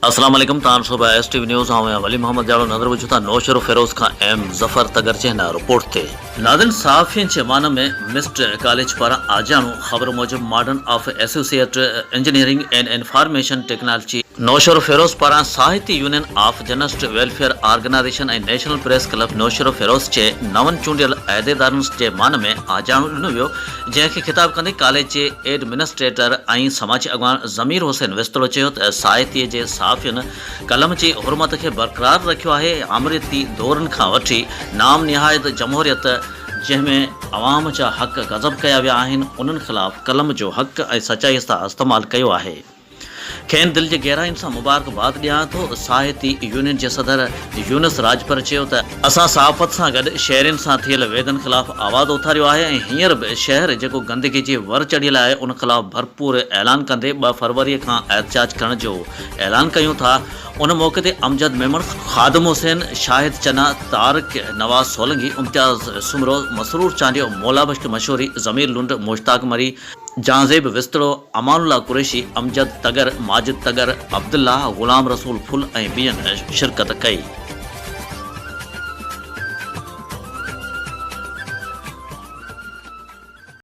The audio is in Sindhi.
السلام عليڪم تان صبح ايس ٽي وي نيوز آئون آهيان ولي محمد جاڙو نظر وجهه ٿا نوشهرو فيروز کان ايم ظفر تگر چهنا رپورٽ تي ناظرين صحافين جي ايوان ۾ مسٽ ڪاليج پاران آجياڻو خبر موجب modern of associate engineering and information technology Naushahro Feroz پاران Sahiti union of journalist welfare organization ۽ national press club Naushahro Feroz جي نون چونڊيل عهديدارن جي مان ۾ آجياڻو ڏنو ويو جنهن کي خطاب ڪندي ڪاليج جي ايڊمنسٽريٽر ۽ سماجي اڳواڻ ضمير حسين وسطڙو چيو ته سائتي جي صحافين قلم جي حرمت کي برقرار رکيو آهي آمريتي دورن کان وٺي نام نهايت جمهوريت جنهن ۾ عوام جا حق غضب ڪيا ويا آهن انهن خلاف قلم جو حق ۽ سچائي سان استعمال ڪيو آهي. کين دل جي گهراين سان مبارڪباد ڏيان ٿو، ساهتي يونين جي صدر يونس راڄپر چيو ته، اسان صحافت سان گڏ شهرين سان ٿيل ويڌن خلاف آواز اٿاريو آهي ۽ هينئر به شهر جيڪو گندگي جي ور چڙهيل آهي ان خلاف ڀرپور اعلان ڪندي ٻه فروري کان احتجاج ڪرڻ جو اعلان ڪيون ٿا ان موقعي تي امجد ميمڻ، خادم حسين، شاهد چنا، طارق، نواز سولنگي، امتياز سومرو، مسرور چانڊيو، مولا بخش مشوري، ضمير لنڊ، مشتاق مري، جهانزيب وسطڙو، امان الله قريشي، امجد تڳر، ماجد تڳر، عبدالله، غلام رسول ڦل ۽ ٻين شرڪت ڪئي.